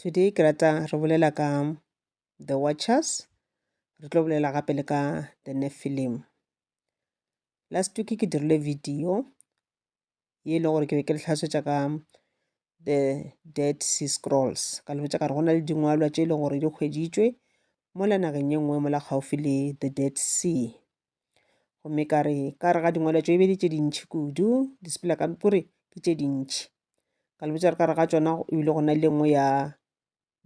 Today ke rata re bolela ka The Watchers, re tlo bolela gape le ka The Nephilim. Last week ke dirile video ye e le gore ke be ke le tlhasetša ka The Dead Sea Scrolls, ka le botša ka re go na le dingwalwa tše e le gore di hweditšwe mola nageng ye nngwe mola kgauswi le The Dead Sea. gomme ka re ka re ga dingwalo tšo e be di tše dintšhi kudu di sepela ka kore ke tše dintšhi ka le botša re ka re ga tšona e bile go na le nngwe ya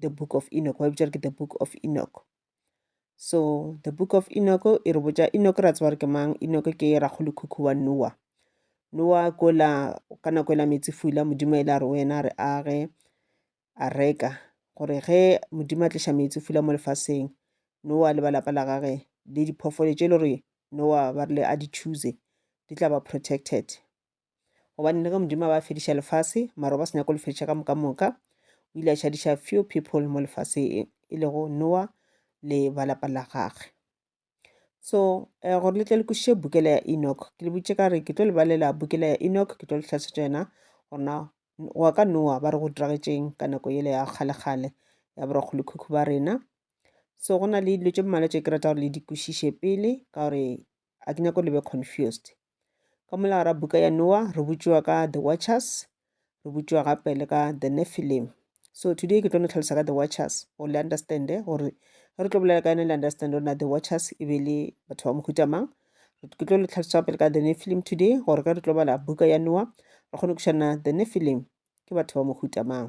the book of enoch ba e botša re ke the book of enoch so the book of enoch e re botša enoch ra tseba re ke mang enoch ke rakgolo khukhu wa noa noa kola ka nako e la metsi fula modimo e la re wena re age a reka gore ge modimo a tliša meetse fula mo lefaseng nowa le ba lapa la gage le diphoofolo tše e le gore nowa ba rile a di choose di tla ba protected gobane le ge modimo a ba fediša lefase mara ba se nyako le fediša ka moka moka o ile a šadiša few people mo lefaseng e lego nowa le ba lapa la gagwe so um gore le tle le kwešiše bukela ya enoch ke le boditše ka re ke tlo le balela bukela ya enoch ke tlo le tlhasetša yona gona goa ka noa ba re go diragetšeng ka nako yele ya kgalekgale ya borakgolokhukhu ba rena so go na le dilo tše mmalwa tše ke rata gore le di kwešiše pele ka gore a ke nyako le be confused Ka molao ra buka ya Noa, re botšiwa ka The Watchers, re botšiwa gape le ka The Nephilim. So today ke tlo no tlhalosa ka The Watchers, gore le understande gore ge re tlo bolela ka yone le understande gore na The Watchers e be le batho ba mohuta mang. Ke tlo le tlhalosa gape le ka The Nephilim today, gore ge re tlo bala buka ya Noa, re kgone kušana The Nephilim ke batho ba mohuta mang.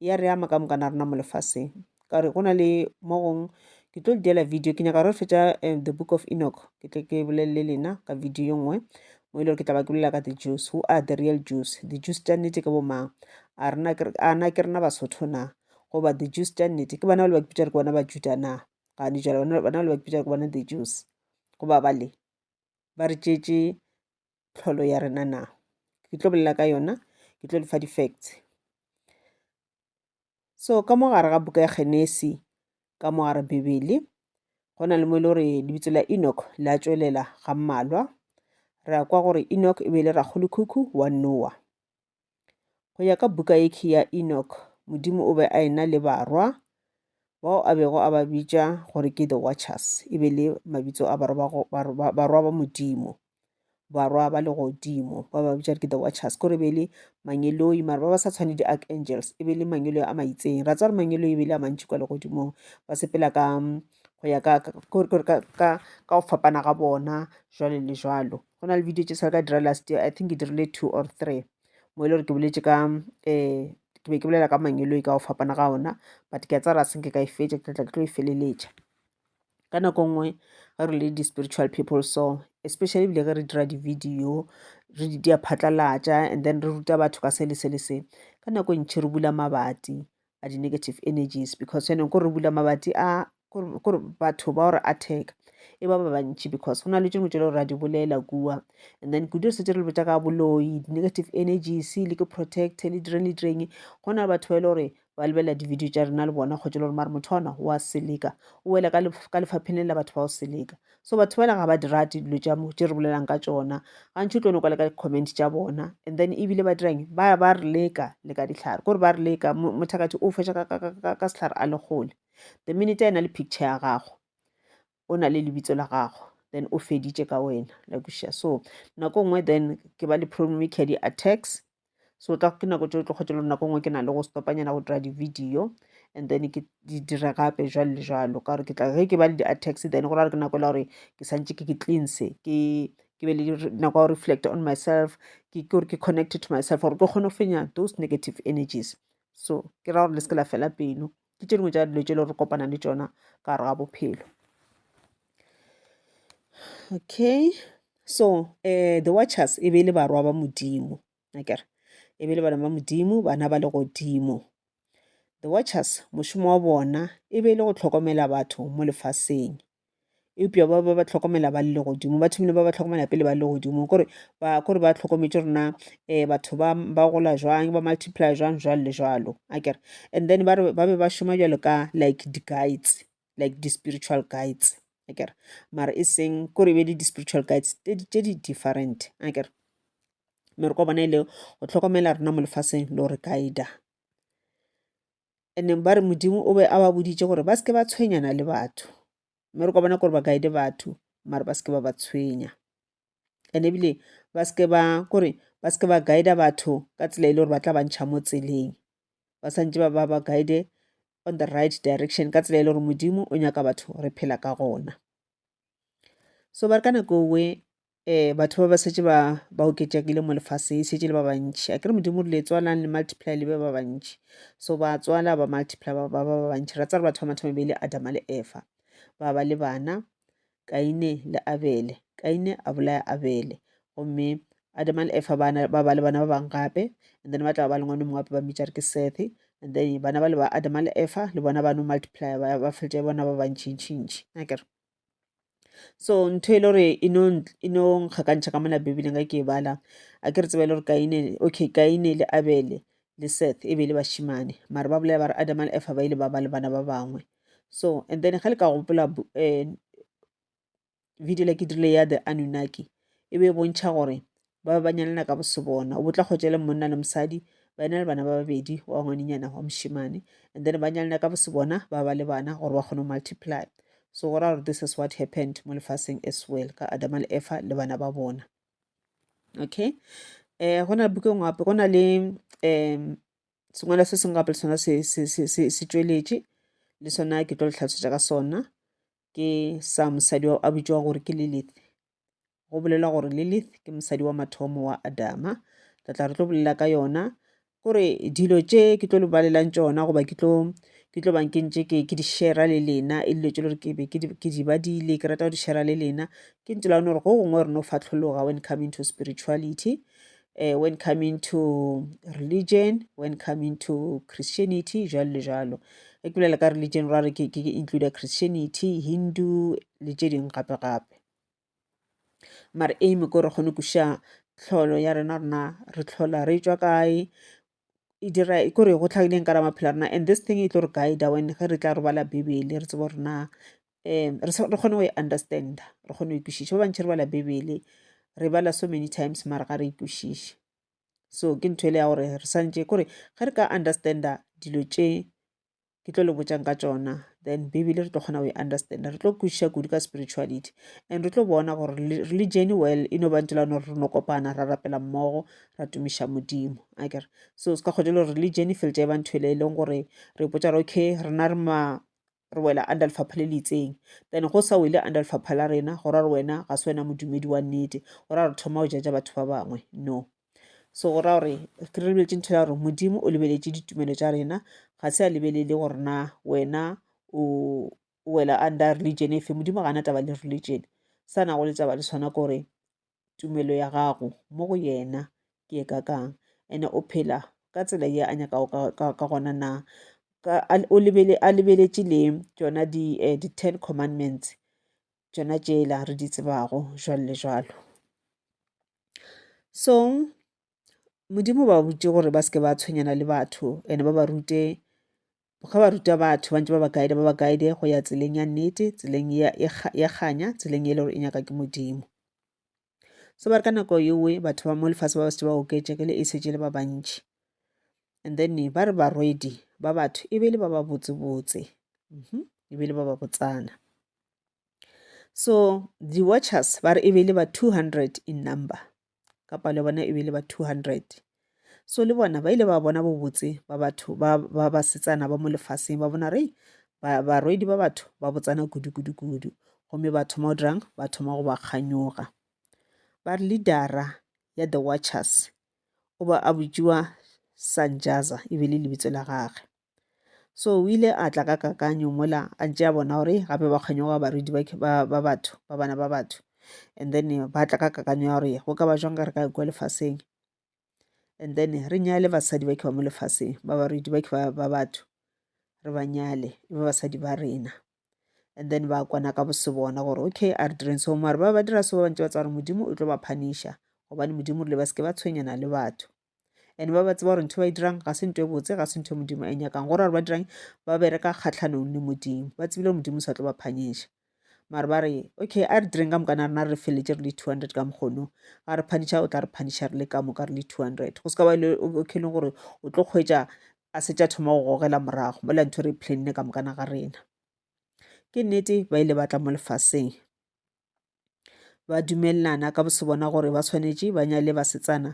ya re ama ka mokana rena mo lefaseng ka gore go na le mo gong ke tlo le diela video ke nyaka re fetša eh, the book of enoch ke tle ke bolelele lena ka video yo nngwe mo e le gore ke tla ba ke bolela ka the jews who are the real jews the jews tša nnete ke bomang a rena ke- a na ke rena basotho na goba the jews tša nnete ke bona ba le ba kipitša re ke bona ba juda na gane jalo bona bona ba le ba kipitša re ke bona the jews goba bale ba re tšetše tlholo ya rena na ke tlo bolela ka yona ke tlo lefa di-facts so ka mo gare ga buka ya genesi ka mo gare bibele go na le mo e le gore lebitso la enoch la tšwelela ga mmalwa re a kwa gore enoch e be e le ragolokhukhu wa noa Go ya ka buka yekhi ya Enoch, Modimo o be a ena le barwa bao a bego a ba bitša gore ke the Watchers, e be le mabitso a barwa ba Modimo barwa ba legodimo ba ba bitša ke the watchers kore be le mangeloi mara ba ba sa tshwane di-archangels e be le mangeloi a maitseng ra tswa re mangeloi e be le a mantši kwa legodimong ba sepela ka go ya ka go fapana ga bona jwalo le jwalo go na le video tše sa ka dira last year i think ke dirile two or three mo e le gore ke boletse ka um ke be ke bolela ka mangelo e ka go fapana ga ona but ke a tsara senke ka e fetša ke tlatla ke tlo e feleletša ka nako nngwe ge re le di-spiritual people so especially bile ge re dira di-video re di dia phatlalatša and then re ruta batho ka se le se le se ka nako e ntšhi re bula mabati a di-negative energies because yanong ko re bula mabati a kore batho ba gore attack e ba ba bantši because go na le tšengwe tšele gore ra di bolela kua and then kudu re setse re le botša ka boloi di-negative energies le ke protect le direng le direng go na le batho ba e le gore ba lebelela di-video tša rena le bona kgotse le gore mare motho ona wa seleka o wela ka lefapheng le la batho ba go seleka so batho bale ga ba di rate dilo tša mo tše re bolelang ka tšona gantši o tlo no kwa le ka di-comment tša bona and then ebile ba dirang ba ba re leka le ka ditlhare kore ba re leka mothakathi o fetša ka setlhare a le kgole the minute a e na le picture ya gago o na le lebitso la gago then o feditše ka wena la kuša so nako nngwe then ke ba le problematic ya di-attacks so tla ke nako tšeo tlo kgwetša lone nako nngwe ke na le go stopanyana go dira di-video and then ke di dire gape jwalo le jwalo ka gore ke tla ge ke ba le di-attacks then go ra gore ke nako e le gore ke santse ke ke cleanse ke ke be le nako ya reflect on myself ke ke gore ke connected to myself gore ke kgone go fenya those negative energies so ke ra gore le se ke la fela pelo ke tše dingwe tša dilo tše le re kopana le tšona ka gare ga bophelo okay so um the watchers e be e le barwa ba modimo akere e be e le bana ba modimo bana ba le godimo the watchers mošomo wa bona e be e le go tlhokomela batho mo lefaseng eupša ba ba ba tlhokomela ba le godimo ba thomile ba ba tlhokomela pele ba le godimo kore ba kore ba tlhokometše rona eh batho ba ba gola jwang ba multiply jwang jwalo le jwalo a kere and then ba re ba be ba šoma jwalo ka like di guides like di spiritual guides a kere mara e seng kore e be le di spiritual guides tše di different a kere mere kwa bona e le go tlhokomela rena mo lefaseng le gore guide and ba re modimo o be a ba boditše gore ba seke ba tshwenyana le batho mme re ka bona gore ba kaede batho mare ba seke ba ba tshwenya and ebile ba seke ba kore ba seke ba guida batho ka tsela e le gore ba tla bantšha mo tseleng ba santse ba ba ba guide on the right direction ka tsela e le gore modimo o nyaka batho re phela ka gona so ba re ka nako we um batho ba ba setse ba ba oketšakile mo lefaseng e setse le ba bantšhi a kere modimo re le tswalang le multiply le ba ba bantšhi so ba tswala ba multiply ba ba ba bantšhi ra tsare batho ba mathomo be le adama le efa ba ba le bana kaine le abele kaine a bolaya abele gomme adama le efa ba ba le bana ba bangwe gape and then ba tla ba le ngwane mongwe gape ba mmitsa re ke sethe and then bana ba le ba adama le efa le bona ba no multiply ba feletse bona ba bantšhintšhintšhi akere so ntho e le gore e no e nkgakantšha ka mona bibeleng ka ke e bala a ke re tseba e le gore kaine okay kaine le abele le seth e be le bashimane mare ba bolela ba re adama le efa ba ile ba ba le bana ba bangwe so and then ga le ka gopola eh, video le ke dirile ya the anunnaki e be e bontšha gore ba ba ba nyalana ka bosebona o bo tla kgwetša le monna le mosadi ba ena le bana ba babedi wa ngwaninyana wa mošemane and then ba nyalana ka bosebona ba ba le bana gore ba kgone go multiply so go ra gore this is what happened mo lefaseng as well ka adama le efa le bana ba bona okay eh go na buka ngwe gape go na le um sengwala se sengwe gape le sona se tšweletše le sona ke tlo le tlhalosetša ka sona ke sa mosadi a bitšwa gore ke lilith go bolelwa gore lilith ke mosadi wa mathomo wa adama re tla re tlo bolela ka yona gore dilo tše ke tlo le balelang tšona goba ke tlo ke tlo bang ke ntše ke ke di shera le lena e dilo tše le gore ke be ke di badile ke rata go di shera le lena ke ntse lane gore go gongwe re no fatlhologa when coming to spirituality uh, when coming to religion when coming to christianity jalo le jalo e ke bolela ka religion ra re ke include christianity hindu le tše dingwe gape gape mare aim ke gore kgone kuša tlholo ya rena rena re tlhola re tswa kae e dira e kore go tlhakileng ka ra maphelo rena and this thing e tlo re guide when ge re tla re bala bibele re tsebo rena um re kgone go e understand re kgone go ikwešiša ba bantšhi re bala bibele re bala so many times mara ga re ikwešiše so ke ntho ele ya gore re santse kore ge re ka understanda dilo tše ke tlo le botšang ka tšona then bibele re tlo kgona go e understanda re tlo kwešiša kudu ka spirituality and re tlo bona gore re le jeny well e no bantse la no re no kopana ra rapela mmogo ra tumiša modimo a kere so se ka kgotsa le gore religion e feltša e ba nthwele e leng gore re potsa re okay rena re ma re wela under lefapha le le itseng then go sa wele under lefapha la rena go ra re wena ga se wena modumedi wa nnete go ra re thoma go jaja batho ba bangwe no so go raya gore ke re lebeletše ntho ya gore modimo o lebeletše ditumelo tša rena ga se a lebelele gore na wena o wela under religion efe modimo ga ana taba le religion sa nago le taba le sona ke gore tumelo ya gago mo go yena ke e kakang ene o phela ka tsela ye a nyakago ka gona na a lebeletše le tsona di-ten eh, commandments tšona tšela re di tsebago jwalo le jwalo. So Modimo o ba botše gore ba se ke ba tshwenyana le batho and ba ba rute ga ba ruta batho ba ntse ba ba guide ba ba guide go ya tseleng ya nnete tseleng ya kganya tseleng e le gore e nyaka ke Modimo. so ba re ka nako yewe batho ba mo lefatshe ba ba setse ba oketše ke le e setse le ba bantši and then ba re barwedi ba batho e be le ba ba botsebotse mhm, e be le ba ba botsana so di-watchers ba re e be le ba 200 in number ka palo ya bona e be le ba 200 so le bona ba ile ba bona bobotse ba batho ba ba basetsana ba mo lefaseng ba bona rei barwedi ba batho ba botsana kudu-kudu-kudu gomme ba thoma o dirang ba thoma go ba kganyoga ba re leadera ya the watchers o ba a botšiwa sanjaza e be le lebitso la gage so o ile a tla ka kakanyo mola a tšea bona gore gape ba kganyoga barwedi ba batho ba bana ba batho and then ba tla ka kakanyo ya gore go ka ba jwang ka re ka kwa lefaseng and then re nyale basadi ba ke ba mo lefaseng ba barwedi ba ke ba batho re ba nyale e ba basadi ba rena and then ba kwana ka bose bona gore okay a re direng so mare ba ba dira so ba bantse ba tsa gore modimo o tlo ba phanisha gobane modimo rile ba seke ba tshwenyana le batho and ba ba tseba gore ntho ba e dirang ga se nto e botse ga se ntho e modimo a e nyakang gore gore ba dirang ba bereka kgatlhanong le modimo ba tsebile gore modimo o sa tlo ba phanyeša mare ba re okay a re direng ka moka na rena re feletse re le two hundred ka mokgono ga re phaniša o tla re phaniša re le ka moka re le two hundred go se ka ba le okay e leng gore o tlo kgwetsa a se tša thoma go gogela morago mola ntho re planne ka moka na ga rena ke nnete ba ile ba tla mo lefaseng ba dumelelana ka bose bona gore ba tshwanetše ba nyale basetsana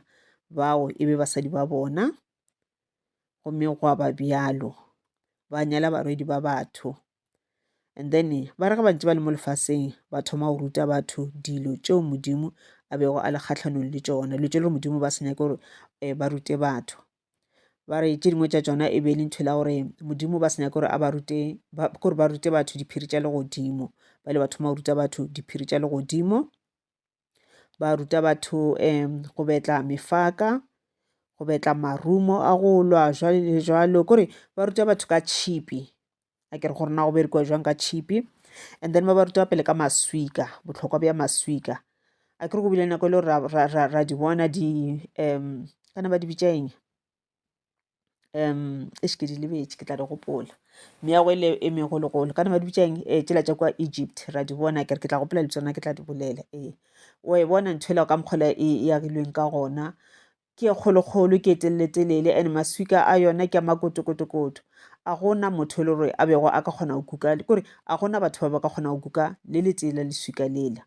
bao e be basadi ba bona gomme gwa ba bjalo ba nyala barwedi ba batho and then ba re ge bantse ba le mo lefaseng ba thoma go ruta batho dilo tšeo modimo a bego a le kgatlhanong le tšona dilo tše le gore modimo ba se nyake gore um ba rute batho ba re tše dingwe tša tšona e be e le ntho e la gore modimo ba se nyake gore a ba rute gore ba rute batho diphiri tša legodimo ba ile ba thoma go ruta batho diphiri tša legodimo ba ruta batho um go betla mefaka go betla marumo a go lwa jwale le jwalo kore ba ruta batho ka tšhipi a ke re gore na go berekiwa jwang ka tšhipi and then ba ba ruta pele ka maswika botlhokwa bja maswika a ke re go bile nako e le gore ra di bona di um kana ba di bitša eng um e šeke di lebetše ke tla di gopola meago e le e megologolo kana ba di bitša eng e eh, tšela tša kwa egypt ra di bona kere ke tla gopola le tsona ke tla di bolela ee o e bona ntho ela ka mokgola e, e agilweng ka gona Ke e kgolokgolo, ke e teleletelele, and maswika a yona ke a makotokotokoto. A go na motho e le gore a bego a ka kgona go kuka, ke gore a go na batho ba ba ka kgona go kuka le letee la leswika lela.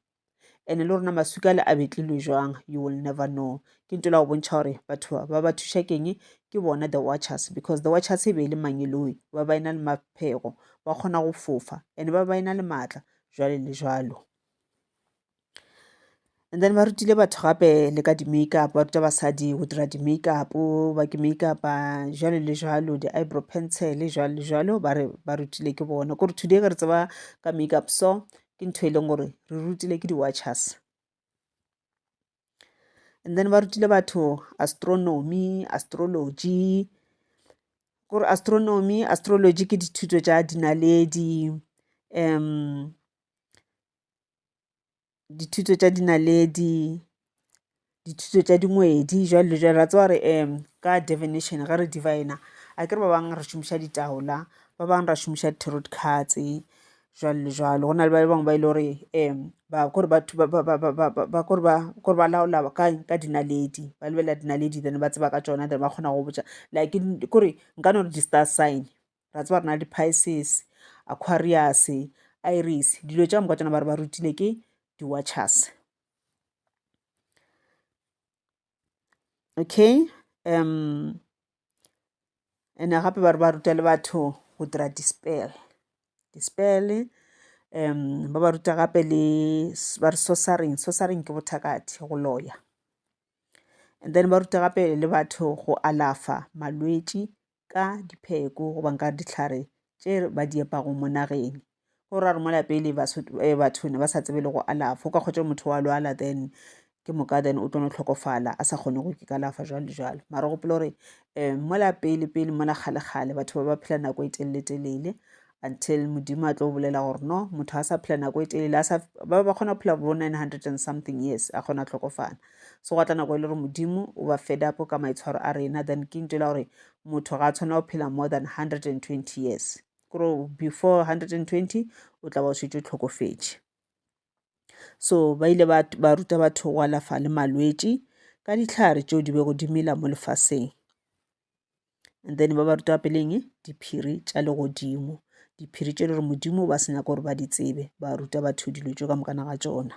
And le rona maswika ale a betlilwe jwang, you will never know. Ke nto la go bontšha gore batho ba, ba ba thuša keng, ke bona the Watchers, because the Watchers e be e le mangeloi, ba ba e na le maphego, ba kgona go fofa, and ba ba e na le maatla, jwale le jwalo. and then ba rutile batho gape le ka di-makeup ba ruta basadi go dira di-makeup ba ke makeup jalo le jalo di-eyebrow pencil jalo le jalo ba re ba rutile ke bona kore today ge re tseba ka makeup so ke ntho e leng gore re rutile ke di-watchers and then ba rutile batho astronomy astrology gore astronomy astrology ke dithuto tša dinaledi um dithuto tša dinaledi, dithuto tša dingwedi jwalo le jwalo. Wa tseba gore ka divination ge re diviner akere ba bang re šomiša ditaola, ba bang re šomiša di-tarot cards jwalo le jwalo. Go na le ba bangwe ba e le gore ba kore batho ba kore ba kore ba laola kang ka dinaledi, ba lebelela dinaledi then ba tseba ka tšona then ba kgona go botša like kore nka no re di-star sign. ra tseba re na le di-pisces aquarius iris dilo tša moka tsona ba re ba rutile ke di-watchers okay um ene gape ba re ba ruta le batho go dira di-spell di-spell um ba ba ruta gape le ba re sosaring sosaring ke bothakathe go loya and then ba ruta gape le batho go alafa malwetši ka dipheko goba ka dihlare tše ba di epago mo nageng go ra gore mola pele eh, batho ne ba sa tsebe le go alafa o ka kgotsa motho wa lwala then ke moka then o tlo no tlhokofala a sa kgone go ikalafa jalo le jalo mara gopolo gore um mola pele pele mola kgale-kgale batho ba ba phela nako e telele-telele until modimo a tlo bolela gore no motho a sa phela nako e telele ba ba kgona go phela bo 900 and something years a kgona tlhokofala so gwa tla nako e le gore modimo o ba fed up ka maitshwaro a rena then ke ntela gore motho ga a tshwana go phela more than 120 years kore before 120 o tla ba o šetse tlhokofetše so ba ile ba ruta batho go alafa le malwetši ka ditlhare tšeo di bego di mela mo lefaseng and then ba ba ruta peleng diphiri tša legodimo diphiri tše le gore modimo ba se nyaka gore ba di tsebe ba ruta batho dilo tšo ka mokana ga tsona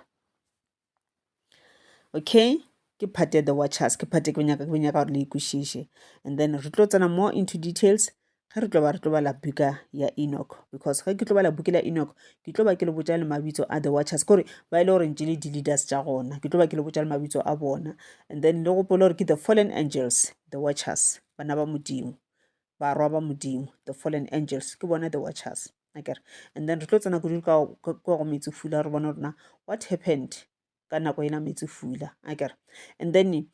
okay ke part ya the watchers ke part e ke nyaka ke nyaka gore le ikwešiše and then re tlo tsena more into details ge re tlo ba re tlo bala buka ya enoch because ge ke tlo bala buka la enoch ke tlo ba ke le botsa le mabitso a the watchers kore ba e le goreng le di-leaders tša gona ke tlo ba ke le botsa le mabitso a bona and then le gopole gore ke the fallen angels The Watchers, Bana ba Modimo, Barwa ba Modimo, The Fallen Angels, ke bona The Watchers. Akere, and then re tlo tsena kudu ka go metsi fula, re bona rona what happened ka nako ena metsi fula. Akere, and then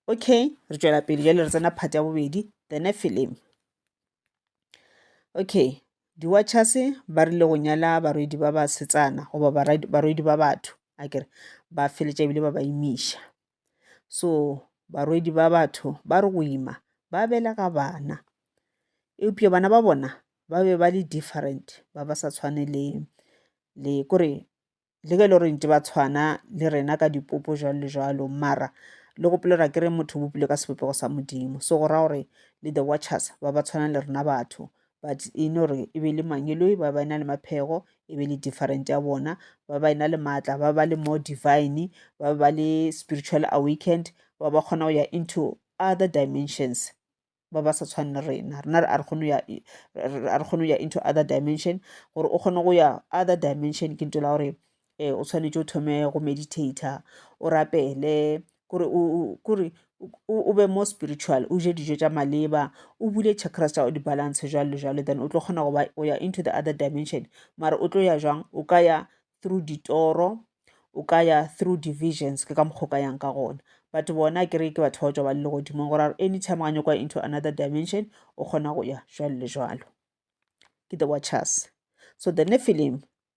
okay re tšwela pele jale re tsena part ya bobedi the nephilim okay di-watchers ba rile go nyala barwedi ba basetsana goba barwedi ba batho a kere ba feletša ebile ba ba imiša so barwedi ba batho ba re go ima ba belega bana eupša bana ba bona ba be ba le different ba ba sa tshwane le le kore le ge e le gore ntse ba tshwana le rena ka dipopo jwalo le jwalo mara le gopolelwa ke re motho o bopilwe ka sebopego sa modimo so go raya gore le the watchers ba ba tshwana le rena batho but e no re e be le mangeloi ba ba e na le maphego e be le different ya bona ba ba e na le maatla ba ba le more divine ba ba le spiritual awakened ba ba kgona go ya into other dimensions ba ba sa tshwane rena rena re a re kgone ya a re kgone ya into other dimension gore o kgone go ya other dimension ke nto la gore eh, o tshwanetse o thome go meditator o rapele kore kore o be more spiritual o je dijo tša maleba o bule chakras tša di balance jalo le jalo then o tlo kgona go ba o ya into the other dimension mara o tlo ya jwang o ka ya through ditoro o ka ya through divisions ke ka mokgwa ka yang ka gona but bona ke re ke batho ba tswa ba le legodimong gore anytime ga nyakwa into another dimension o kgona go ya jwalo le jwalo ke the watchers so the nephilim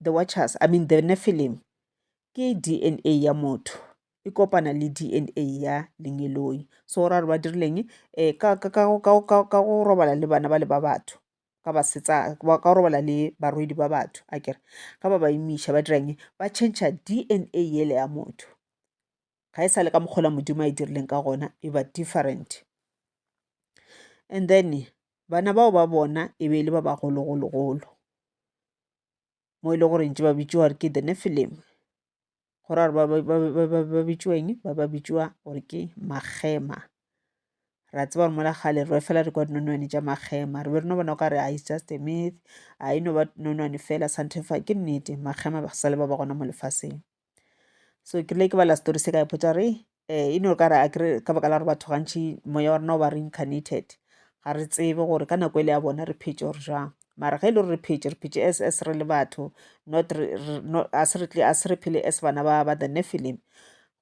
the watchers i mean the nephilim ke dna ya motho e kopana le dna ya lengeloi so ra re ba dirileng um ka go robala le bana ba le ba batho ka basetsa ka robala le barwedi ba batho a kere ka ba ba imiša ba dirang ba change dna yele ya motho ga e sa le ka mokgola modimo a e dirileng ka gona e ba different and then bana bao ba bona e be e le ba bagologologolo mo e le goreng tše ba bitšiwa gore ke the Nephilim. Go ra gore ba bitšiwa eng? Ba ba bitšiwa gore ke Magema. Ra tseba gore mola kgale re fela re kwa dinonwane tša Magema. Re be re no bona o ka re it's just a myth, a e no ba nonwane fela ke nnete Magema ba sa le ba ba gona mo lefaseng. so ke le ke bala story se ka ipotsa re um e no ka re a kere ka baka la gore batho gantšhi moya wa rena o ba reincarnated ga re tsebe gore ka nako e le ya bona re phetse gore jang mara ge e le gore re phetse re phetse as as re le batho not a se re phele as bana ba ba the nephilim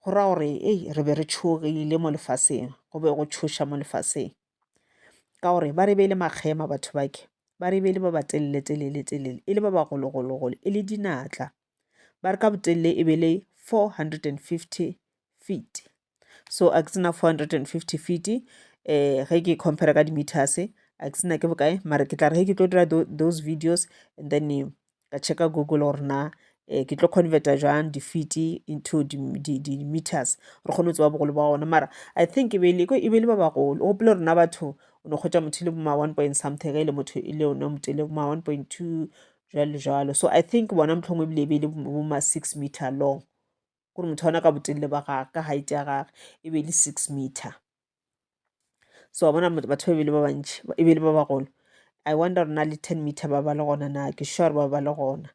go ra gore ei re be re tšhogile mo lefaseng go be go tšhoša mo lefaseng ka gore ba re beile makgema batho bake ba re beile ba ba telele telele telele e le ba bagologologolo e le dinatla ba re ka botelele e be le 450 feet so a ke tsena 450 feet eh ge ke compare ka di-meters a ke tsena ke bokae mara ke tla re ge ke tlo dira those videos and then eh, ka checka google gore na eh, ke tlo converta jang di-feet into di-meters re kgone go tseba bogolo ba gona mara i think e be le e ba bagolo o gopole rona batho o ne kgwetsa motho e le boma one point something ge e le motho e le one motho e le boma one point two jalo jalo so i think bona motlhongwe ebile e be e le bo ma six meter long gore motho ona ka botelele ba gage ka height ya gage e be e le six meter so wa bona batho ba e be e le ba bantši e be e le ba bagolo i wonder gore na le ten meter ba ba le gona na ke sure gore ba ba le gona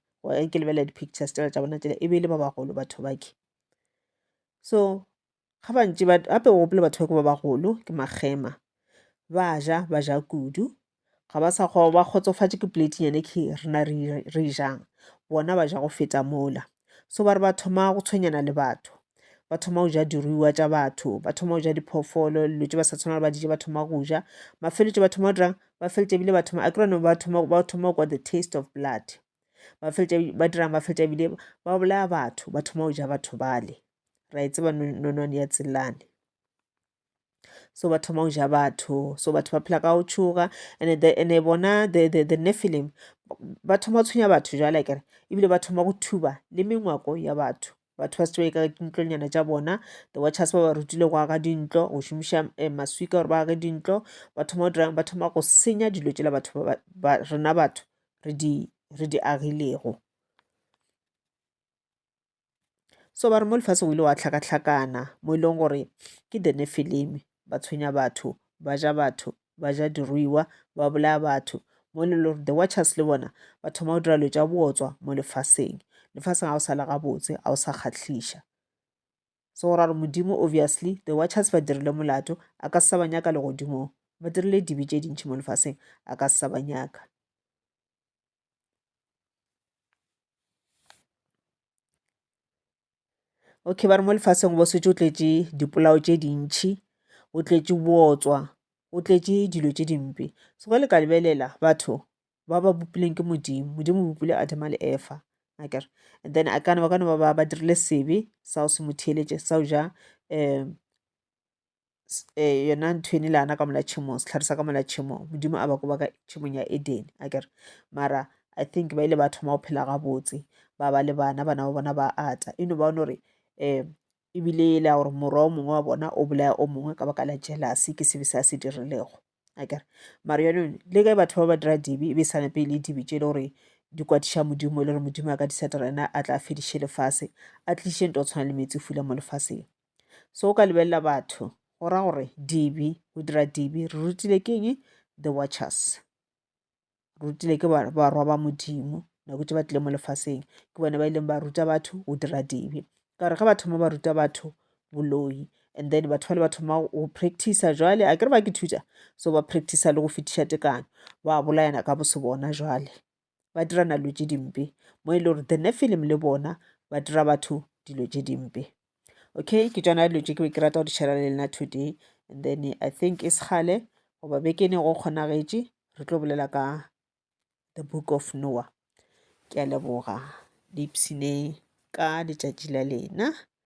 ke lebelela di-pictures tsela tša bona tsela e be e le ba bagolo batho bake so ga bantši gape o gopole batho ba ke ba bagolo ke makgema ba ja ba ja kudu ga ba sa kgoba ba kgotsofatše ke plate nyane ke rena re jang bona ba ja go feta mola so ba re ba thoma go tshwenyana le batho ba thoma go ja diruiwa tša batho ba thoma go ja diphoofolo dilo tse ba sa tshwana le ba dije ba thoma go ja mafeletse ba thoma go dirang ba feletse ebile ba thoma a kerone ba thoma ba thoma go kwa the taste of blood ba feletse ba dirang ba feletse ebile ba bolaya batho ba thoma go ja batho bale ra e tseba nonwane ya tselane so ba thoma go ja batho so batho ba phela ka go tšhoga ande bona the nephilim ba thoma go tshwenya batho jale kere ebile ba thoma go thuba le mengwako ya batho batho ba se tšwa ka dintlonyana tša bona the watchers ba ba rutile go aga dintlo go šomiša eh, maswika gore ba age dintlo ba thoma go dirang ba thoma go senya dilo tšela batho rena batho re di agilego so ba re mo lefaseng o ile wa tlhakatlhakana mo e leng gore ke the nefilimi ba tshwenya batho ba ja batho ba ja diruiwa ba bolaya batho mo e le gore the watchers le bona ba thoma go dira dilo tša bootswa mo lefaseng lefaseng ga o sa le gabotse ga o sa kgatlhiša so go ra gore modimo obviously the watchers ba dirile molato a ka se sa ba nyaka legodimong ba dirile dibe tše dintšhi mo lefaseng a ka se sa ba nyaka okay ba re mo lefaseng go setse o tletše dipolao tše dintšhi o tletše bootswa o tletše dilo tše dimpe so ge le ka lebelela batho ba ba bopilweng ke modimo modimo o bopile adama le efa akere and then a kana ba kana ba ba ba dirile sebe sa go se mo theeletše sa go ja um eh, yona ntho ene le ana ka mola tšhemong setlhare sa ka mola tšhemong modimo a ba ko ba ka tšhemong ya eden a kere mara i think ba ile ba thoma go phela gabotse ba ba le bana bana ba bona ba ata e no ba one gore um ebile e le ya gore morwa o mongwe wa bona o bolaya o mongwe ka baka la jealousy ke sebe se a se dirilego akere mara yaanong le ge batho ba ba dira dibe e be e sa nepe e le dibe tše e le gore di kwatiša modimo e le gore modimo a ka di setela ena a tla fediše lefase a tliše nto tshwana le metsi fula mo lefaseng so o ka lebelela batho go ra gore dibe go dira dibe re rutile keng the watchers rutile ke barwa ba modimo nako tše ba tlile mo lefaseng ke bone ba ileng ba ruta batho go dira dibe ka gore ge ba thoma ba ruta batho boloi and then batho ba le ba thoma go practice jwale a kere ba ke thuta so ba practice le go fetiša tekano ba bolayana ka bose bona jwale ba dira nalo tše dimpe mo e le gore the ne film le bona ba dira batho dilo tše dimpe okay ke tšona dilo tše ke be ke rata go di share-ra le nna today and then i think e sekgale goba bekene go kgonagetše re tlo bolela ka the book of noah ke a leboga le ipshineng ka letšatši la lena